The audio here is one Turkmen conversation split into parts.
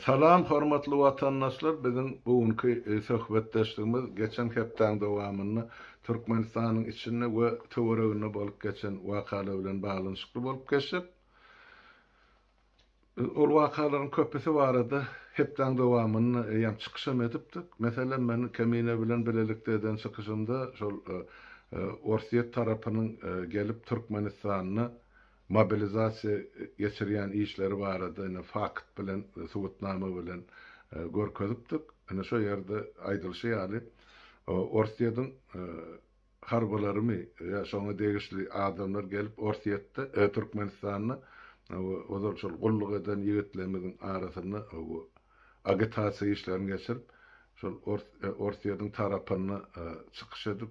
Salam hormatly watandaşlar biziň bu günki söhbetdeşligimiz geçen hepdäň dowamynda Türkmenistanyň içinde we töwereginde bolup geçen wakalar bilen baglanyşykly bolup geçjek. Biz ol wakalaryň köpüsi barada hepdäň dowamynda eýýäm çykyş hem edipdik. Meselem men Kemine bilen bilelikde eden çykyşymda şol Orsýet tarapynyň gelip Türkmenistanda mobilizasiýa geçirýän işleri barada ine fakt bilen, subutnama bilen görkezipdik. Ine şo ýerde aýdylyşy ýaly, Orsýetiň harbylarymy ýa şoňa degişli adamlar gelip Orsýetde, Türkmenistanda ozal şol gulluk eden ýigitlerimiziň arasynda bu agitasiýa işlerini geçirip, şol Orsýetiň tarapynda çykyş edip,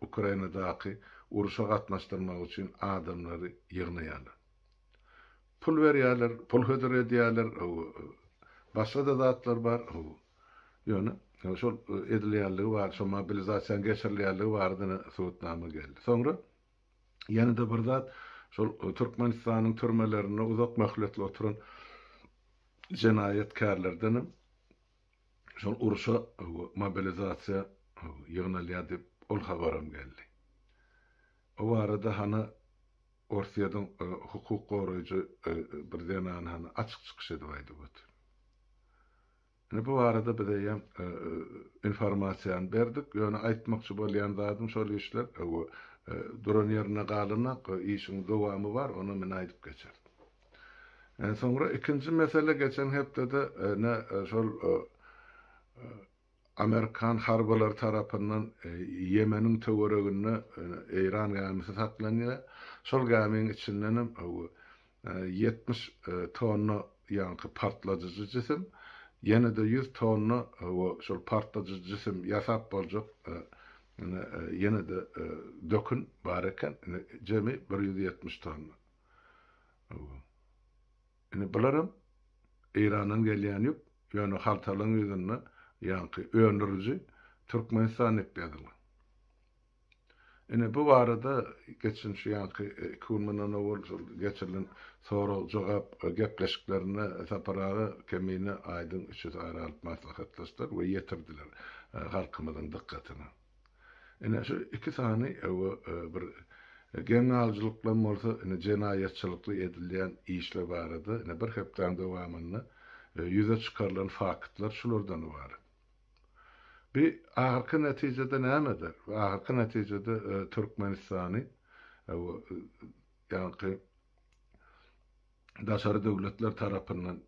Ukrainadaky urşa gatnaşdyrmak üçin adamlary ýygnaýarlar. Pul berýärler, pul hödür edýärler, başga-da zatlar bar. Ýöne şol edilýänligi bar, şol mobilizasiýanyň geçirilýänligi barada-da subutnama geldi. Soňra ýene-de bir zat, şol Türkmenistanyň türmelerinde uzak möhletli oturan jenaýatkärlerdenem Şol urşa mobilizasiýa ýygnalýar diýip ol habaram geldi. O barada hany Orsýediň hukuk goraýjy bir zenany hany açyk çykyş edip aýdyp otyr. Indi bu barada biz eýýäm informasiýany berdik, ýöne aýtmakçy bolýan zadym şol işler duran ýerinde galanok, işiň dowamy bar, ony men aýdyp geçeris. Soňra ikinji mesele geçen hepdede ene şol amerikan harbylary tarapyndan Ýemeniň töwereginde Eýran gämisi saklanýar. Şol gämiň içindenem ýetmiş tonna ýaňky partladyjy jisim, ýene-de ýüz tonna şol partladyjy jisim ýasap boljak ýene-de dökün bar eken. Jemi bir ýüz ýetmiş tonna. Indi bularam Eýrandan gelýän ýük, ýöne haltalaryň ýüzünde ýaňky öndüriji Türkmenistan diýip ýazylan. Ine bu barada geçen şu ýaňky iki gün mundan owal şol geçirilen sorag-jogap gepleşiklerinde Sapar aga Kemine aýdyň üçüsi ara alyp maslahatlaşdylar we ýetirdiler halkymyzyň dykgatyna. Ine, şu iki sany ew bir geňalcylyklam bolsa, ine, jenaýatçylykly edilýän işler barada, ine, bir hepdäň dowamynda ýüze çykarylan faktlar şulardan ybarat. Bi ahyrky netijede nämedir? Bi ahyrky netijede Türkmenistany ew ýaňky daşary döwletler tarapyndan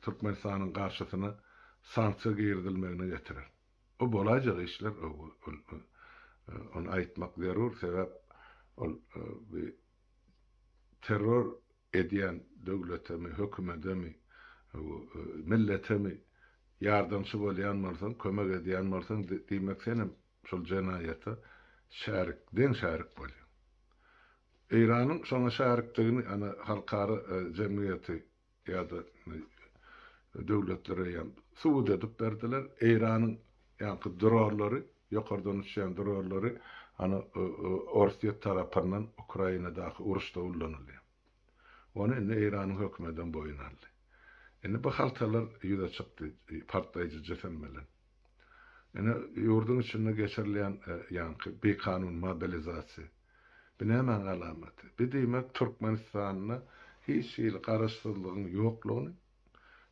Türkmenistanyň garşysyna sanksiýa girizilmegine getirer. Bu bolaýjak işler ony aýtmak zerur sebäp ol bi terror edýän döwletemi hökümetemi milletemi ýardamçy bolýan bolsaň kömek edýän bolsaň diýmek senem şol jenaýata şärik deň şärik bolýaň Eýranyň şoňa şärikdigini ana halkara jemgyýeti ýa-da döwletlere ýa-da subut edip berdiler, Eýranyň ýaňky dronlary, ýokardan uçýan dronlary ana Orsýet tarapyndan Ukrainadaky uruşda ullanylýar. Ony indi Eýranyň hökümedem boýun aldy. Indi bu haltalar ýüze çykdy partlaýjy jisim bilen. Indi ýurduň içinde geçirilýän ýaňky bikanun mobilizasiýa, Bu nämäň alamaty? Bu diýmek Türkmenistanda hiç hili garaşsyzlygyň ýoklugyny,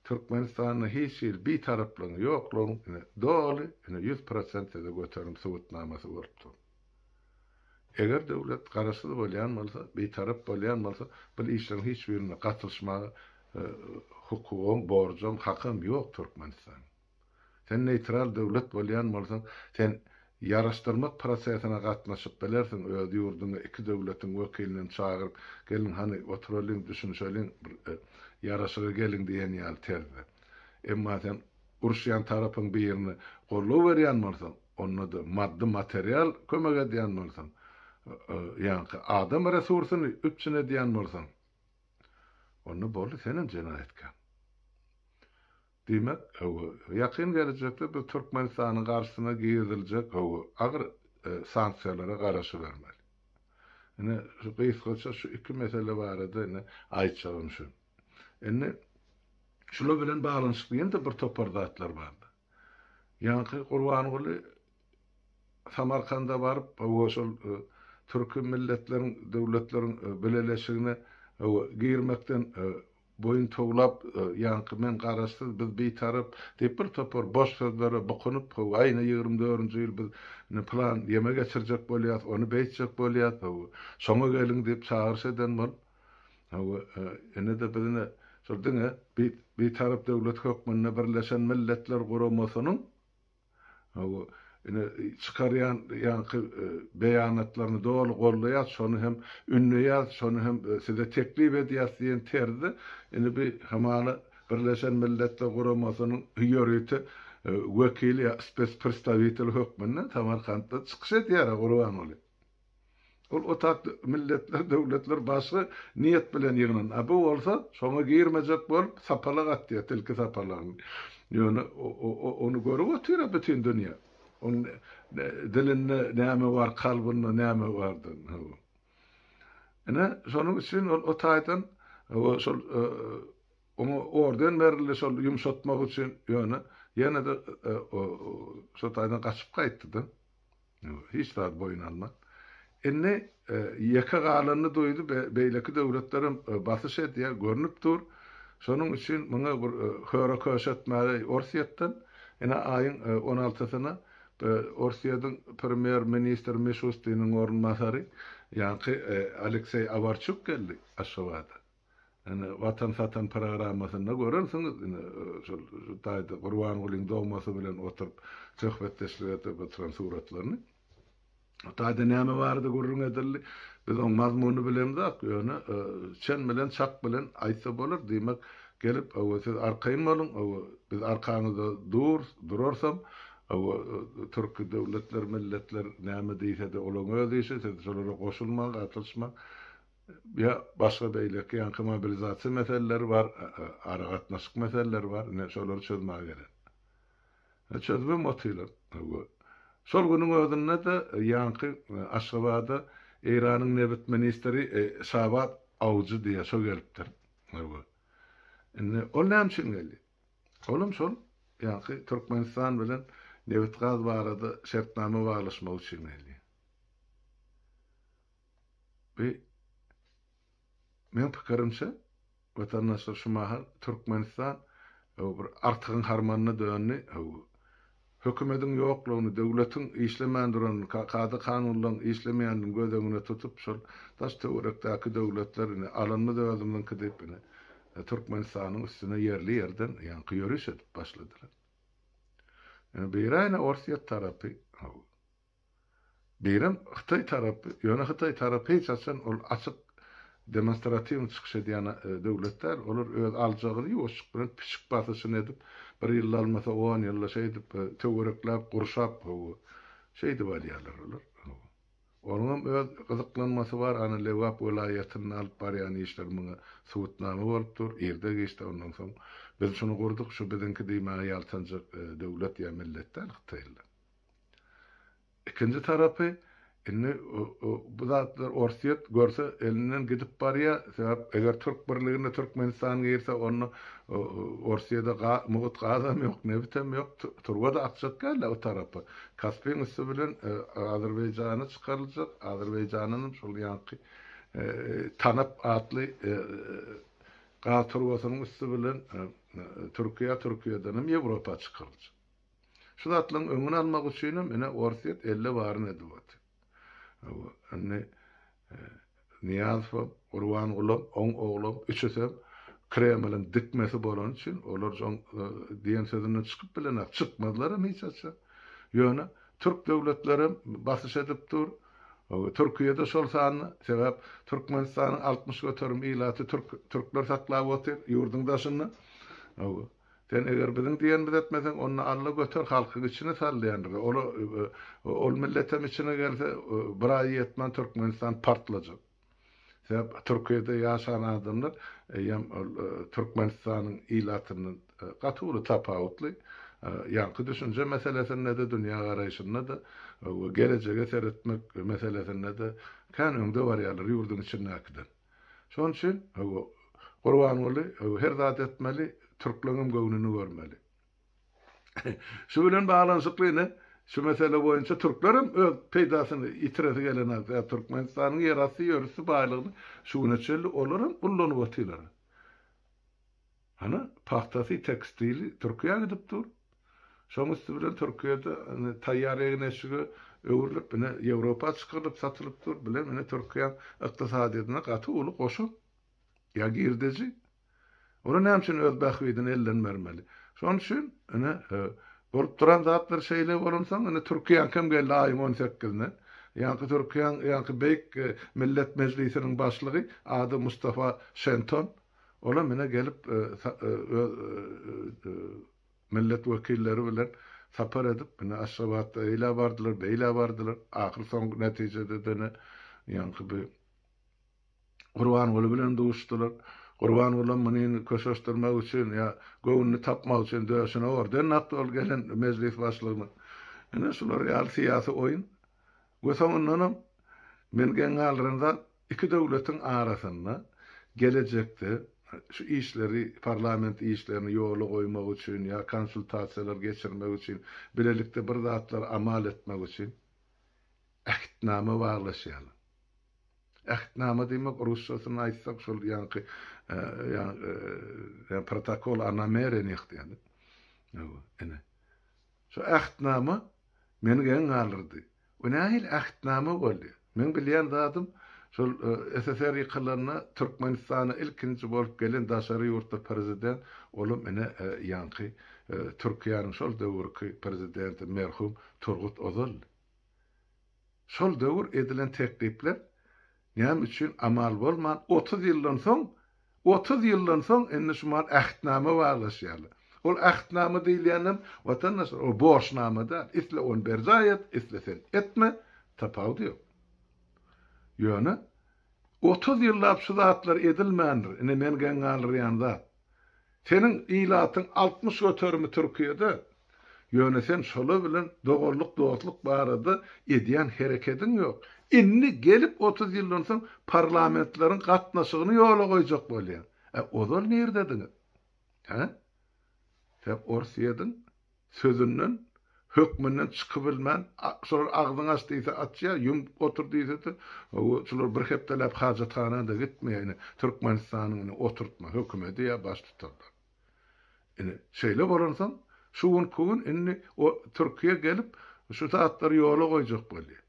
Türkmenistanda hiç hili bitaraplygyň ýoklugyny ine doly ine ýüz prosent size göterim subutnamasy bolup dur. Eger döwlet garaşsyz bolýan bolsa, bitarap bolýan bolsa, bul işleriň hiç birine gatylyşmaga hukugam, borjam, hakam ýok Türkmenistanyň. Sen neýtral döwlet bolýan bolsaň, sen ýaraşdyrmak prosesine gatnaşyp bilersiň, öz ýurduňa iki döwletiň wekilini çagyryp, geliň hany, oturalyň, düşünişeliň, bir ýaraşyga geliň diýen ýaly terzde. Emma sen uruşýan tarapyň birini goldaw berýän bolsaň, onda-da maddy material kömek edýän bolsaň, ýaňky adam resursyny üpjün edýän bolsaň, onda boldy, senem jenaýatkär. Diýmek, ýakyn gelejekde biz Türkmenistanyň garşysyna giriziljek agyr sanksiýalara garaşybermeli. Ine, şu gysgaça şu iki mesele barada indi aýtjagym şu. Indi şular bilen baglanyşykly ýene-de bir topar zatlar bardy. Ýaňky Gurbanguly Samarkanda baryp, hawa, şol Türki Milletleriň Döwletleriň Bileleşigine girmekden Boýun towlap, ýaňky men garaşsyz, biz bitarap diýip bir topar boş sözlere bukunyp, hawa, aýna ýigrimi dördünji ýyl biz indi pylan ýeme geçirjek bolýas, ony beýtjek bolýas, hawa, şoňa geliň diýip çagyryş eden bolup, hawa, ine-de biz ine şol diňe Bitarap döwlet hökmünde Birleşen Milletler Guramasynyň Hawa, ine, çykarýan ýaňky beýanatlaryňy doly goldaýas, şony hem ündeýäs, şony hem size teklip edýäs diýen terzde, indi bi hamala Birleşen Milletler Guramasynyň ýörite wekili ýa spesprstawitel hökmünde Samarkantda çykyş edýär-ä Gurbanguly. Ol otag milletler, döwletler başga niýet bilen ýygnan, a bu bolsa şoňa girmejek bolup sapalak atýar, tilki sapalagyny. Ýöne ony görüp otyr-a bütin dünýä. Onuň dilinde näme bar, kalbynda näme bardygyny, hawa. Ine, şonuň üçin ol o taýdan, hawa, şol oňa orden berildi şol ýumşatmak üçin, ýöne ýene-de şo taýdan gaçyp gaýtdy-da. Hiç zat boýun alman. Indi ýeke galanyny duýdy, beýleki döwletlerem basyş edýär, görnüp dur. Şonuň üçin muňa bir höre-köşe etmäge Orsýetden, ine, aýyň on altysyna Orsýetiň premýer-ministri Mişustiniň orunbasary, ýaňky Alekseý Awarçuk geldi Aşgabada. Ine, Watan satan programmasynda görensiňiz, ine, şol taýda Gurbangulyň domasy bilen oturyp söhbetdeşlik edip oturan suratlaryny. O taýda näme barada gürrüň edildi? Biz oň mazmunyny bilemzok, ýöne çen bilen, çak bilen aýtsa bolar, diýmek, gelip, hawa, siz arkaýyn boluň, hawa, biz arkaňyzda durus, durarsam, hawa, türki döwletler, milletler näme diýse-de, olaň öz işi, siz şolara goşulmaň, gatylyşmaň, Ýa başga beýleki ýaňky mobilizasiýa meseleleri bar, aragatnaşyk meseleleri bar, ine şolary çözmäge gerek. Ine çözübem otyrlar. Hawa. Şol günüň özünde-de ýaňky Aşgabada Eýranyň nebit ministri Şabad Awjy diýýär, şo gelipdir. Hawa. Indi ol näme üçin geldi? Olam şol ýaňky Türkmenistan bilen nebit-gaz barada şertnama baglaşmak üçin geldi. Bi meň pikirimçe watandaşlar şu mahal Türkmenistan hou bir artygyň harmanyna döndi, hou hökümediň ýoklugyny, döwletiň işlemän duranyny, ka kada kanunlaryň işlemeýänini göz öňüne tutup şol daş töwerekdäki döwletler ine alanymyz özümiziňki diýip ine Türkmenistanyň üstüne ýerli ýerden ýaňky ýöriş edip başladylar. Ine biri ine Orsýet tarapy hou. Beýrem hytaý tarapy, ýöne hytaý tarapy hiç haçan ol açyk demonstratiwny çykyş edýän döwlet däl, olar öz aljagyny ýuwaşjyk bilen pişik basyşyny edip, bir ýylda almasa on ýylda şeýdip töwerekläp gurşap hawa, şeýdip alýarlar olar hawa. Onuňam öz gyzyklanmasy bar, ana Lebap welaýatynda alyp barýan işleri muňa subutnama bolup dur, irde-giçde ondan soň biz şuny gurduk, şu biziňki diýmäge ýaltanjak döwlet ýa millet däl hytaýlylar. Ikinji tarapy, indi bu zatlar Orsýet görse elinden gidip barýar, sebäp eger Türk birligine Türkmenistan girse onda Orsýede mugut gazam ýok, nebitem ýok, turba-da akjak däl-ä o tarapa. Kaspiň üsti bilen Azerbaýjana çykaryljak, Azerbaýjanynam şol ýaňky Tanap atly gaz turbasynyň üsti bilen Türkiýä, Türkiýedenem Ýewropa çykaryljak. Şu zatlaryň öňüni almak üçinem ine Orsýet elle baryny edip otyr. Indi Nyýazow, Gurbangulam, oň oglam üçüsem Kremliň dikmesi bolany üçin olar joň diýen sözünden çykyp bilenok, çykmazlaram hiç haçan. Ýöne türk döwletlerem basyş edip dur. Türkiýede şol sanda, sebäp Türkmenistanyň altmyş göterim ilaty türk, türkler saklap otyr ýurduň daşynda. Sen eger biziň diýenimizi etmeseň, onda Alla göter halkyň içine sal diýendir. Ola ol milletem içine gelse, bir aý ýetmän Türkmenistan partlajak. Sebäp Türkiýede ýaşan adamlar eýýäm ol Türkmenistanyň ilatyndan gaty uly tapawutly. Ýaňky düşünje meselesinde-de, dünýägaraýşynda-da we gelejege seretmek meselesinde-de kän öňde barýarlar ýurduň içindäkiden. Şonuň üçin, hawa, Gurbanguly, hawa, her zat etmeli, türkleňem göwnüni görmeli. Şu bilen baglanyşykly ine, şu mesele boýunça türklerem öz peýdasyny ýitiresi gelenok. Ýa Türkmenistanyň ýerasty ýörüsli baýlygyny şu güne çenli olaram ullanyp otyrlar. Hany, pagtasy, tekstili Türkiýä gidip dur. Şoň üsti bilen Türkiýede indi taýýar egin-eşige öwrülip, ine, Ýewropa çykarylyp satylyp dur. Bular, ine, Türkiýäň ykdysadyýetine gaty uly goşant ýa girdeji. Olar näme üçin öz bähbidine elden bermeli? Şonuň üçin, ine, bolup duran zatlar şeýle bolansoň, indi Türkiýäňkem geldi aýyň on sekizine. Ýaňky Türkiýäň ýaňky beýik Millet Mejlisiniň başlygy ady Mustafa Şenton. Olar menä gelip öz millet wekilleri bilen sapar edip menä Aşgabatda eýlä bardylar, beýlä bardylar. Ahyr soňky netijede dene ýaňky bi Gurbanguly bilen duşdular. Gurbangulam muny köşeşdirmek üçin ýa göwnüni tapmak üçin döşüne orden dakdy ol gelen mejlis başlygynyň. Ine şular ýaly syýasy oýun. We soňundanam men geň galdyran zat Iki döwletiň arasynda gelejekde şu işleri, parlament işlerini ýola goýmak üçin ýa konsultasiýalar geçirmek üçin, bilelikde bir zatlary amal etmek üçin Ähtnama baglaşýarlar. Ähtnama diýmek rusçasyny aýtsak şol ýaňky ýa protokol o namereniýah diýýärler. Hawa, ine. Şu Ähtnama meni geň galdyrdy. Bu nähili ähtnama boldy? Meň bilýän zadym, şol SSR ýykylanda Türkmenistana ilkinji bolup gelen daşary ýurtly prezident, olam ine ýaňky Türkiýäniň şol döwürki prezidenti merhum Turgut Ozaldy. Şol döwür edilen teklipler Näme üçin amal bolman otuz ýyldan soň, otuz ýyldan soň indi şu mahaly ähtnama baglaşýarlar. Ol ähtnama diýilýänem, watandaşlar, ol borçnama däl. Isle ony berjaý et, isle sen etme, tapawudy ýok. Ýöne otuz ýyllap şu zatlar edilmändir. Ine men geň galdyrýan zat. Seniň ilatyň altmyş göterimi Türkiýede, ýöne sen şolar bilen doganlyk, dostluk barada edýän herekediň ýok. Indi gelip otuz ýyldan soň parlamentleriň gatnaşygyny ýola goýjak bolýaň. Ozal nirdediňiz? Hä? Sen ors ýediň, Sözünden, hökmünden çykybilmän, şolar agzyňy aç diýse açýar, ýum otur diýse-de, hawa, şular bir hepdeläp hajathana-da gitmeýär, ine, Türkmenistanyň ine oturtma hökümedi ýa baştutanlary. Ine, şeýle bolansoň, şu günki gün indi o Türkiýe gelip, şu zatlary ýola goýjak bolýar.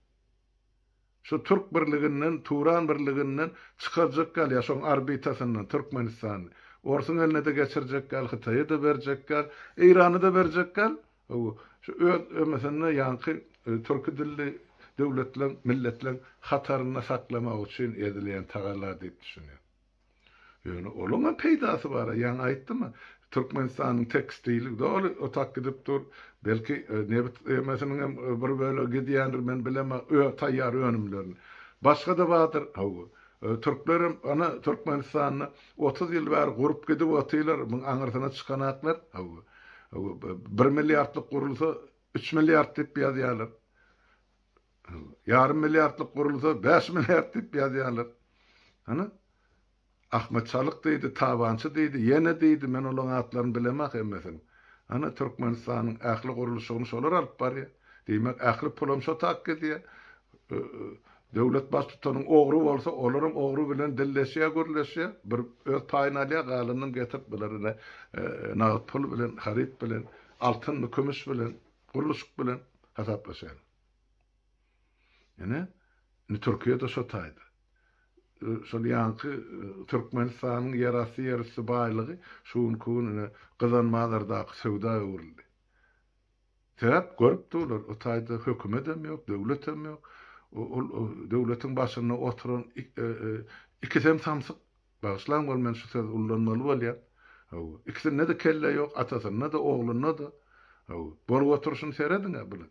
Şu Türk birliginden, Turan birliginden çykarjak gal ýa şoň orbitasyndan Türkmenistany. Orsuň eline-de geçirjek gal, Hytaýa-da berjek gal, Eýrana-da berjek gal. Hawa, şu öz MSN-ni ýaňky türki dilli döwletleň, milletleň hatarynda saklamak üçin edilýän tagalla diýip düşünýän. Ýöne olaňam peýdasy bar-a, ýaňy aýtdym-a, Türkmenistanyň tekstili doly otap gidip dur, belki, nebit emesiniňem bir bölegi gidýändir, men bilemok, öz taýýar önümlerini. Başga-da bardyr, hawa, türklerem, ana, Türkmenistanda otuz ýyl bäri gurup gidip otyrlar, muň aňyrsyna çykanaklar, hawa, hawa, bir milliardlyk gurulsa, üç milliard diýip ýazýarlar. Ýarym milliardlyk gurulsa bäş milliard diýip ýazýarlar. Hany? Ahmet Çalyk diýdi, Tabançy diýdi, ýene diýdi, men olaň atlaryny bilemok hemmesiniň. Hany Türkmenistanyň ähli gurluşygyny şolar alyp barýar. Diýmek ähli pulam şo tak gidýär. Döwlet baştutanyň ogry bolsa olaram ogry bilen dilleşýär, gürleşýär. Bir öz paýyny alýar, galanyny getirip bular ine nagt pul bilen, haryt bilen, altynmy, kümüş bilen, gurluşyk bilen hasaplaşýarlar. Ýöne indi Türkiýe-de şo taýda. Şol ýaňky Türkmenistanyň ýerasty, ýerüsti baýlygy şu günki gün ine Gyzanmazardaky söwda öwrüldi. Sebäp görüpdi olar, o taýda hökümetem ýok, döwletem ýok. Ol döwletiň başynda oturan ikisem samsyk. Bagyşlaň bol men şu sözi ullanmaly bolýan. Hawa. Ikisinde-de kelle ýok, atasynda-da, oglunda-da. Hawa. Bolup oturşyny serediň-ä bunuň.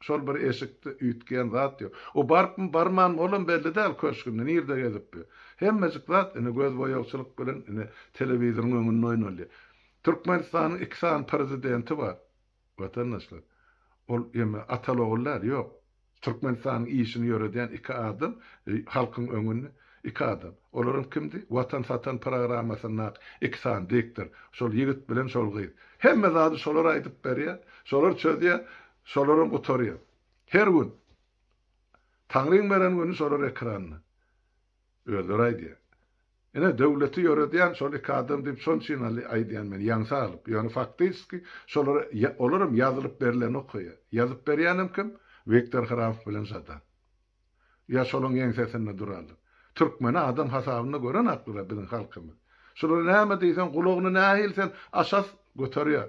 Şol bir eşikde üýtgeýän zat ýok. O barypmy, barmanmy, olam belli däl, köşgünde, nirde gezipbi. Hemmejik zat ine gözboýagçylyk bilen ine telewizoryň öňünde oýnalýar. Türkmenistanyň iki sany prezidenti bar, watandaşlar. Ol ýeme atal-ogul däl, ýok. Türkmenistanyň işini ýöredýän iki adam halkyň öňünde, iki adam. Olaram kimdi? Watan satan programmasyndaky iki sany diktor. Şol ýigit bilen şol gyz. Hemme zady şolar aýdyp berýär, şolar çözýär. Şolaram gutarýar. Her gün. Taňryň beren güni şolar ekranda. Özleri aýdýar. Ine, döwleti ýöredýän şol iki adam diýip şonçinaly aýdýan men, ýaňsa galyp. Ýöne faktiski şolar, olaram ýazylyp berileni okaýar. Ýazyp berýänem kim? Wiktor Hramow bilen Žadan. Ýa şolaň ýeňsesinde durarlar. Türkmeni adam hasabynda gören akylyra biziň halkymyz. Şulara näme diýseň, gulagyny nähili sen aşas göterýär.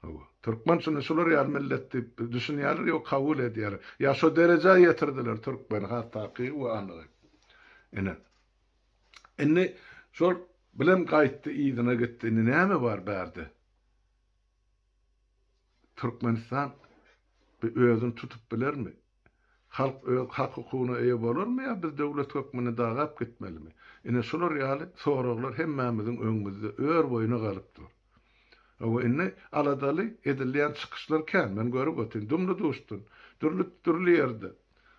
Hawa. Türkmen şuny şular ýaly millet diýip düşünýärler ýok kabul edýärler. Ýa şo derejä ýetirdiler türkmeni has takygy we anygy. Ine. Indi şol bilem gaýtdy yzyna gitdi indi näme bar bärde. Türkmenistan özüni tutup bilermi? Halk öz hak-hukugyna eýe bolarmy ýa biz döwlet hökmünde dagap gitmelimi? Ine şular ýaly soraglar hemmämiziň öňümizde ör boýuna galyp dur. Hawa, indi aladaly edilýän çykyşlar kän. Men görüp otyryn, dumly-duşdan, dürli, dürli ýerde,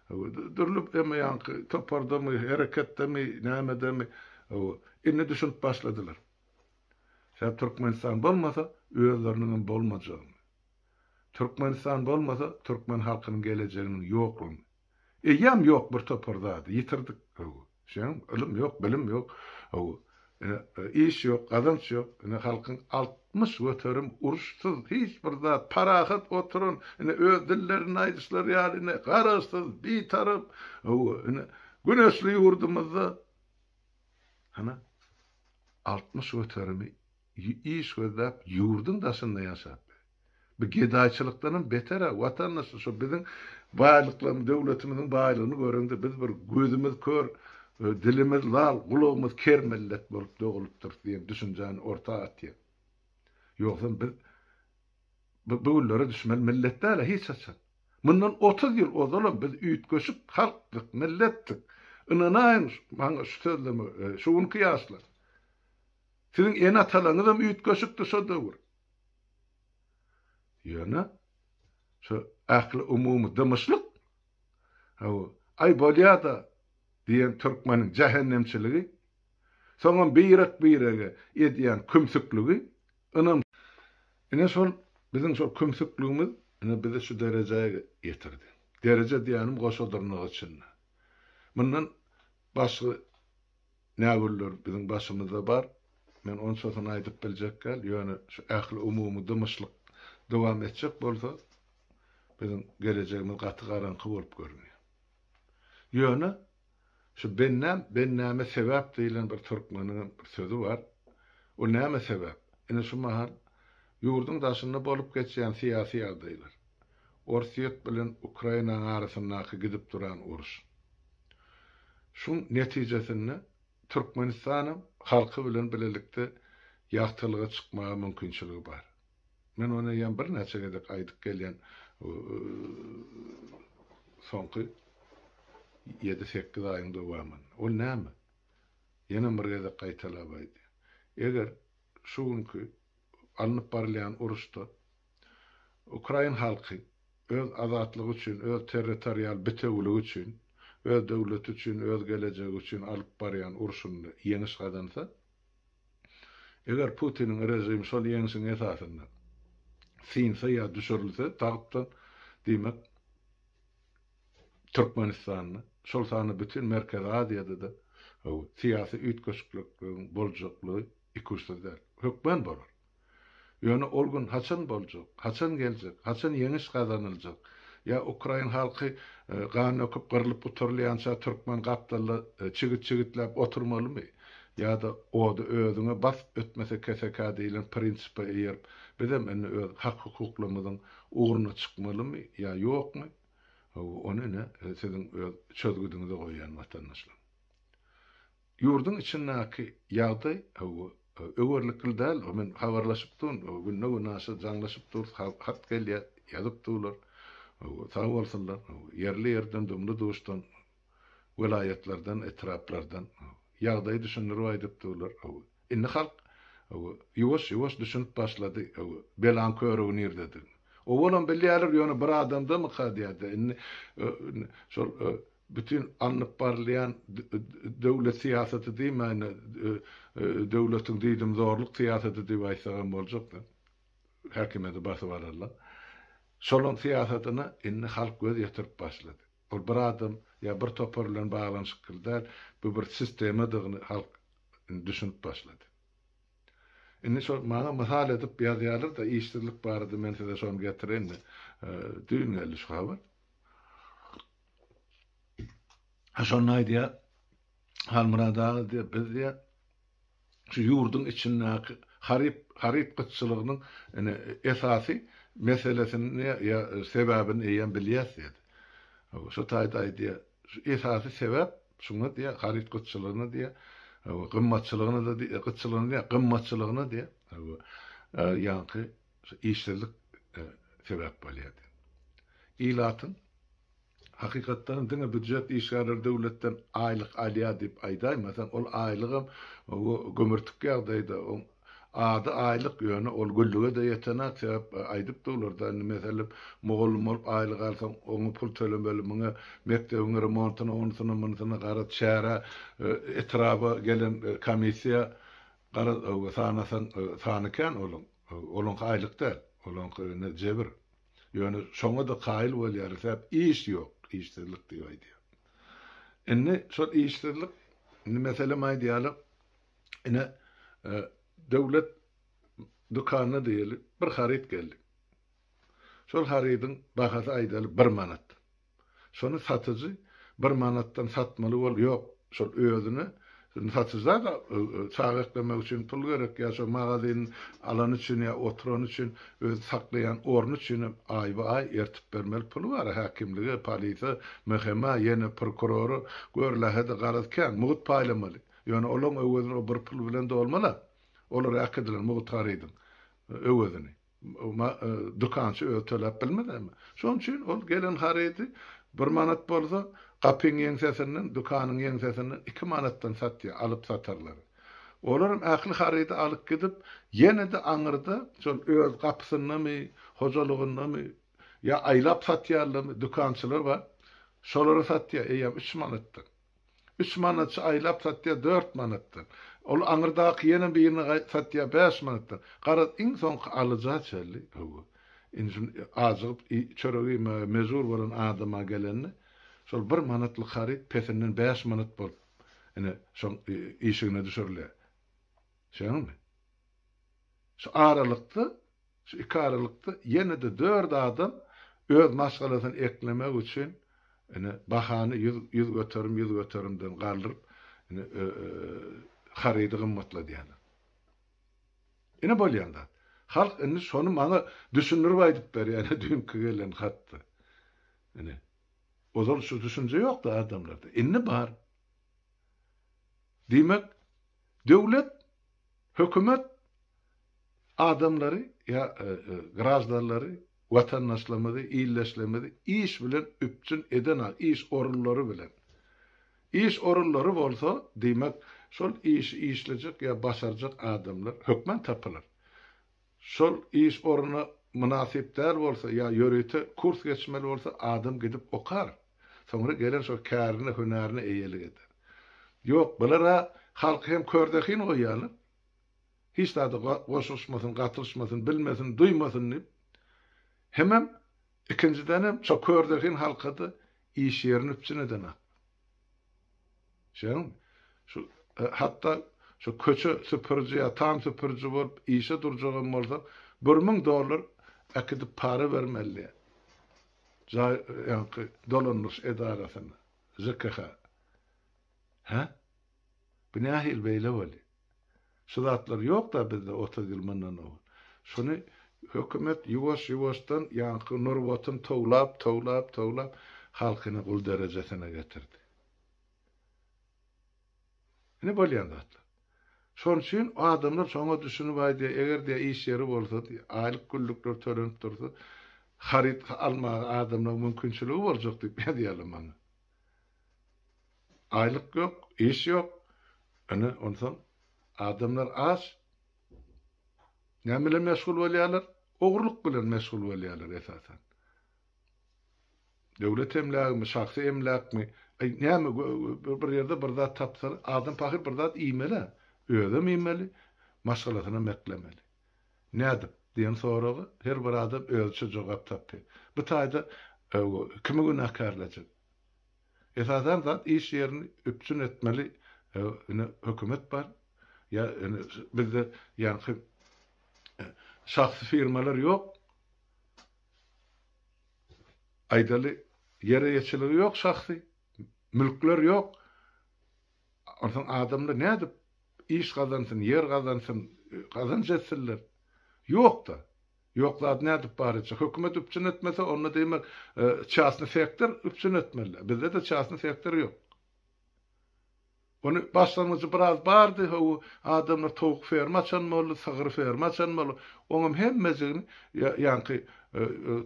hawa, dürli emma ýaňky topardamy, hereketdemi, nämedemi, hawa, indi düşünip başladylar. Sebäbi Türkmenistan bolmasa, özleriniň hem bolmajagyny. Türkmenistan bolmasa türkmen halkynyň gelejeginiň ýoklugyny eýýäm ýok bir topar zady ýitirdik haw şeým ylym ýok bilim ýok haw ine iş ýok gazanç ýok ine halkyň altmyş göterim uruşsyz hiç bir zat parahat oturan ine öz dillerinde aýdyşlary ýaly ine garaşsyz bitarap haw ine güneşli ýurdumyzda ana altmyş göterimi iş gözläp ýurduň daşynda ýaşap bu gedaýçylykdanam beter-ä watandaşlar şo biziň baýlyklarymyz döwletimiziň baýlygyny göreňde biz bir gözümiz kör dilimiz lal gulagymyz ker millet bolup dogulypdyrys diýen düşünjäni orta atýar ýogsam biz bu bu günlere düşmeli millet däl-ä hiç haçan mundan otuz ýyl ozalam biz üýtgeşik halkdyk milletdik ynanaýyň maňa şu sözleme şu günki ýaşlar. Siziň ene-atalaryňyzam üýtgeşikdi şo döwür. Ýöne şo ähli umumy dymyşlyk, haw, aý bolýa-da diýen türkmeniň jähennemçiligi, soňam birek-birege edýän kümsükligi, ynam, ine şol biziň şol kümsükligimiz ine bizi şu derejä getirdi. Dereje diýýänim goşa dyrnak içinde. Mundan başga Nä günler biziň başymyzda bar, men onçasyny aýdyp biljek däl, ýöne şu ähliumumy dymyşlyk dowam etjek bolsa, biziň gelejegimiz gaty garaňky bolup görünýär. Ýöne, şu Bennäm, Bennäme sebäp diýlen bir türkmeniňem bir sözi bar. Ol näme sebäp? Ine şu mahal ýurduň daşynda bolup geçýän syýasy ýagdaýlar. Orsýet bilen Ukrainaň arasyndaky gidip duran uruş. Şuň netijesinde Türkmenistanam halky bilen bilelikde ýagtylyga çykmaga mümkinçiligi bar. Men ony eýýäm birnäçe gezek aýdyp gelýän soňky ýedi-sekiz aýyň dowamynda. Ol näme? Ýenem bir gezek gaýtalap aýdýan. Eger şu günki alnyp barylýan uruşda Ukrain halky öz azatlygy üçin, öz territorial bitewiligi üçin, öz döwleti üçin, öz gelejegi üçin alyp barýan urşunda ýeňiş gazansa, eger Putiniň režimi şol ýeňşiň esasynda synsa ýa düşürilse, tagtdan, diýmek, Türkmenistanda, şol sanda bütin Merkezi Aziýada-da syýasy üýtgeşiklikligiň boljaklygy ikuçsyz däl. Hökman bolar. Ýöne ol gün haçan boljak, haçan geljek, haçan ýeňiş gazanyljak? Ýa ukrain halky gan döküp gyrlyp gutarylýança türkmen gapdalda çigit-çigitläp oturmalymy? Ýa-da ody özüňe bas, ötmese keseka diýlen prinsipe eýerip, bizem indi öz hak-hukuklarymyzyň ugruna çykmalymy ýa ýokmy? Hawa, ony ine, siziň öz çözgüdiňize goýýan watandaşlar. Ýurduň içindäki ýagdaý öwerlikli däl. Men habarlaşyp durun. Günde gün aşa jaňlaşyp durus. Hat gelýär, ýazyp durlar. Sag bolsunlar. Ýerli ýerden, dumly-duşdan, welaýatlardan, etraplardan ýagdaýy düşündirip aýdyp durlar. Indi halk ýuwaş-ýuwaş düşünip başlady belaň körügi nirdedigini. Owalam bilýärler, ýöne bir adamdamyka diýýärdi. Indi şol bütin alnyp barylýan döwlet syýasaty diýmäýin-de, döwletiň diýdimzorluk syýasaty diýip aýtsagam boljak-da, häkimiýeti basyp alarlar. Şolaryň syýasatyna indi halk göz ýetirip başlady. Ol bir adam ýa bir topar bilen baglanyşykly däl, bu bir sistemadygyny halk indi düşünip başlady. Indi şol maňa mysal edip ýazýarlar-da, işsizlik barada men size şony getireýin-de, düýn geldi şu habar. Ha şonda aýdýar, Halmyrat aga diýýär, biz diýýär, şu ýurduň içindäki haryt haryt gytçylygynyň ine esasy meselesini ýa sebäbini eýýäm bilýäs diýýär. Hawa, şo taýda aýdýar, şu esasy sebäp şuňa diýýär, haryt gytçylygyna diýýär. Hawa, gymmatçylygyna-da diýýär, gytçylygyna diýýär, gymmatçylygyna diýýär. Hawa, ýaňky Şu işsizlik sebäp bolýardy. Ilatyň, hakykatdanam, diňe býujet işgärleri döwletden aýlyk alýar diýip aýdaýmasaň, ol aýlygam gömürtik ýagdaýda, oň ady aýlyk, ýöne ol güllüge-de ýetenak, sebäp aýdypdy olarda, indi, meselem, mugallym bolup aýlyk alsaň, oňa pul tölemeli, muňa mekdebiň remontyna, onusuna, munusyna, garaz, çärä, etraba gelen komissiýa, garaz, sanasaň, sany kän olaň. Olaňky aýlyk däl, olaňky ine jebir. Ýöne şoňa-da kaýyl bolýarys däp, iş ýok, işsizlik diýip aýdýar. Indi şol işsizlik, indi meselem aýdýarlar, ine, döwlet dükanyna diýeli, bir haryt geldi. Şol harydyň bahasy aýdaly bir manat. Şony satyjy bir manatdan satmaly bol, ýok, şol özüne satyjyda-da çaga eklemek üçin pul gerek ýa şo magazyn alany üçin ýa oturany üçin öz saklaýan orny üçin hem aýba-aý ertip bermeli puly bar-a häkimlige, polise, MHM-a, ýene prokurora, gör lähede garaz kän, mugt paýlamaly. Ýöne olaň öwezini o bir pul bilen dolmaz-a. Olar äkidiler mugt garydyň öwezini. Dükançy özi töläp bilmezmi? Şonuň üçin ol gelen harydy bir manat bolsa, gapyň ýeňsesinden, dükanyň ýeňsesinden iki manatdan satýar, alyp-satarlary. Olaram ähli harydy alyp gidip, ýene-de aňyrda, şol öz gapysyndamy, hojalygyndamy, ýa aýlap satýarlarmy, dükançylar bar. Şolara satýar, eýýäm üç manatdan. Üç manatça aýlap satýar dört manatdan. Ol aňyrdaky ýene birini satýar bäş manatdan. Garaz, iň soňky alyja çenli, höwwa. Indi ajygyp çörek iýmäge mejbur bolan adama gelende, şol bir manatlyk haryt pesinden bäş manat bolup, ine, şoň işigine düşürilýär. Şeýlemmi? Şu aralykda Şu iki aralykda ýene-de dört adam öz maşgalasyny eklemek üçin ine bahany ýüz ýüz göterim ýüz göterimden galdyryp ine harydy gymmatladýarlar. Ine bolýan zat. Halk indi şony maňa düşündirip aýdyp berýär ine düýnki gelen hatda. Ine. Ozal şu düşünje ýokdy adamlarda. Indi bar. Diýmek, Döwlet, hökümet adamlary ýa graždanlary, watandaşlarymyzy, ildeşlerimizi iş bilen üpjün edena iş orunlary bilen. Iş orunlary bolsa, diýmek, şol işi işlejek ýa başarjak adamlar hökman tapylar. Şol iş ornuna mynasyp däl bolsa ýa ýörite kurs geçmeli bolsa adam gidip okar. Soňra gelen şol kärine, hünärine eýelik eder. Ýok, bular-a halky hem körzehin goýýarlar. Hiç zada goşulyşmasyn, gatylyşmasyn, bilmesin, duýmasyn diýip, hemem Ikinjidenem şo körzehin halkada iş ýerini üpjün eden ak. Şeýdemmi? Şu hatda şo köçe süpüriji ýa tam süpüriji bolup işe durjagam bolsaň, bir müň dollar äkidip para bermeli jaý ýaňky dolandyryş edarasyna, ŽKH. Hä? Bu nähili beýle bolýar? Şu zatlar ýokda bizde otuz ýyl mundan owal. Şuny hökümet ýuwaş-ýuwaşdan ýaňky nurbatyn towlap, towlap, towlap halkyny gul derejesine getirdi. Ine bolýan zatlar. Şon üçin adamlar şoňa düşünip aýdýar, eger diýýär iş ýeri bolsa, aýlyk günlükler tölenip dursa, haryt almaga adamlaryň mümkinçiligi boljak diýip ýazýarlar maňa. Aýlyk ýok, iş ýok. Ine, onsoň adamlar aç. Näme bilen meşgul bolýarlar? Ogurlyk bilen meşgul bolýarlar esasan. Döwlet emlägimi, şahsy emläkmi, aý, näme, bir ýerde bir zat tapsa, adam pahyr bir zat iýmeli-ä. Özem iýmeli, maşgalasynam eklemeli. Nädip? diýen soraga her bir adam özüçe jogap tapýar. Bu taýda kimi günäkärlejek? Esasan zat iş ýerini üpjün etmeli ine hökümet bar ýa ine bizde ýaňky şahsy firmalar ýok aýdaly ýer eýeçiligi ýok şahsy mülkler ýok onsoň adamlar nädip iş gazansyn ýer gazansyn gazanç etsinler ýokda Ýok zat nädip bar etjek. Hökümet üpjün etmese onda diýmek çasny sektor üpjün etmeli. Bizdede çasny sektor ýok. Ony başlangyjy biraz bardy, hawa adamlar towuk ferma açan boldy, sygyr ferma açan boldy. Oňam hemmejigini ýaňky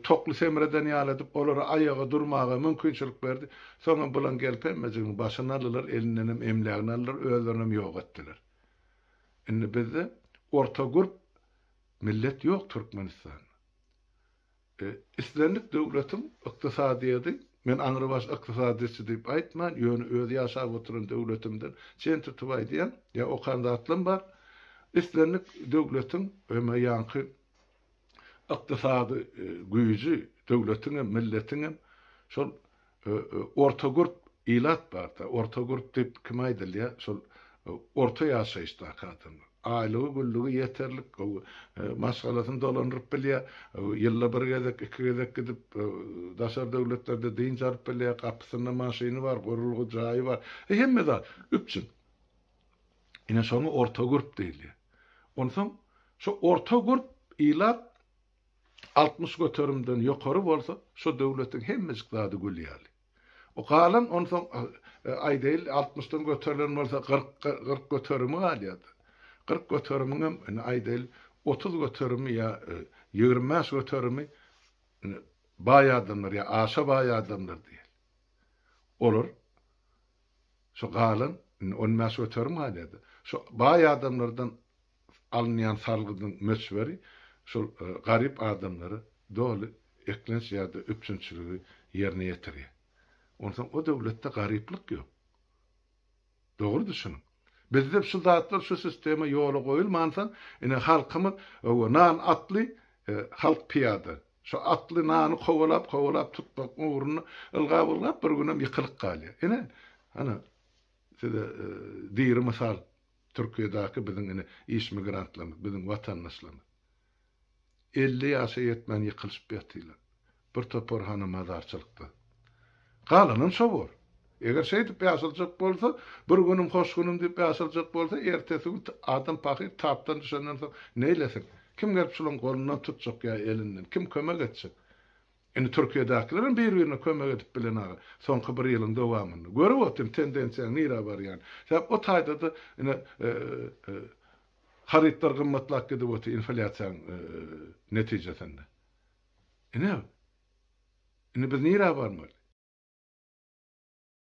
tokly semreden ýaly edip olara aýaga durmaga mümkinçilik berdi. Soňam bulan gelip hemmejigini başyny aldylar, elindenem emlägini aldylar, özlerinem ýok etdiler. Indi bizde orta gurp Millet ýok Türkmenistan. E, islendik döwletiň ykdysadyýeti, men aňrybaş ykdysadyýetçi diýip aýtman, ýöne öz ýaşap oturan döwletimden çen tutup aýdýan, ýa okan zatlam bar, islendik döwletiň öme ýaňky ykdysady e, güýji, döwletiňem, milletiňem şol Ortagurt ilat barda, ortagurt diýip kime aýdylýar? Şol orta ýaşaýyşdaky adamlar. Aýlygy-güllügi ýeterlik, maşgalasyny dolandyryp bilýär, ýylda bir gezek, iki gezek gidip, daşary döwletlerde dynç alyp bilýär, gapysynda maşyny bar, gurulgy jaýy bar, hemme zat üpjün. Ine, şoňa ortagurt diýilýär. Onsoň, şu ortagurt ilat altmyş göterimden ýokary bolsa, şo döwletiň hemmejik zady gül ýaly. O galan onsoň, aýdaýly, altmyşdan göterilen bolsa, kyrk, kyrk göterimi galýar-da. Kyrk göterimiňem, ine, aýdaýly, otuz göterimi ýa ýigrimi bäş göterimi, ine, baý adamlar ýa aşa baý adamlar diýeli. Olar şo galan, indi on bäş göterim galýar-da. Şo baý adamlardan alynýan salgydyň möçberi şol garyp adamlara doly eklenç ýa-da üpjünçiligi ýerine ýetirýär. Onsoň o döwletde garyplyk ýok. Dogry düşüniň. Bizde şu zatlar, şu sistema ýola goýulmansoň, ine, halkymyz owo nan atly, halk pyýada. Şu atly nany kowalap, kowalap tutmak ugrunda ylgap, ylgap bir günem ýykylyp galýar. Ine, ana, size diri mysal. Türkiýedäki biziň ine iş migrantlarymyz, biziň watandaşlarymyz elli ýaşa ýetmän ýykylyşyp ýatylar. Bir topar hana mazarçylykda. Galanam şo bor. Eger şeýdip ýaşaljak bolsa, bir günüm hoş günüm diýip ýaşaljak bolsa, ertesi gün adam pahyr tapdan düşenden soň neýlesin? Kim gelip şularyň golundan tutjak ýa elinden? Kim kömek etjek? Indi Türkiýedäkilerem bir-birine kömek edip bilen aga. Soňky bir ýylyň dowamynda. Görüp otyryn tendensiýaň nirä barýan. Sebäp o taýdada ine harytlar gymmatlap gidip otyr inflýasiýaň netijesinde. Ine. Indi biz nirä barmaly?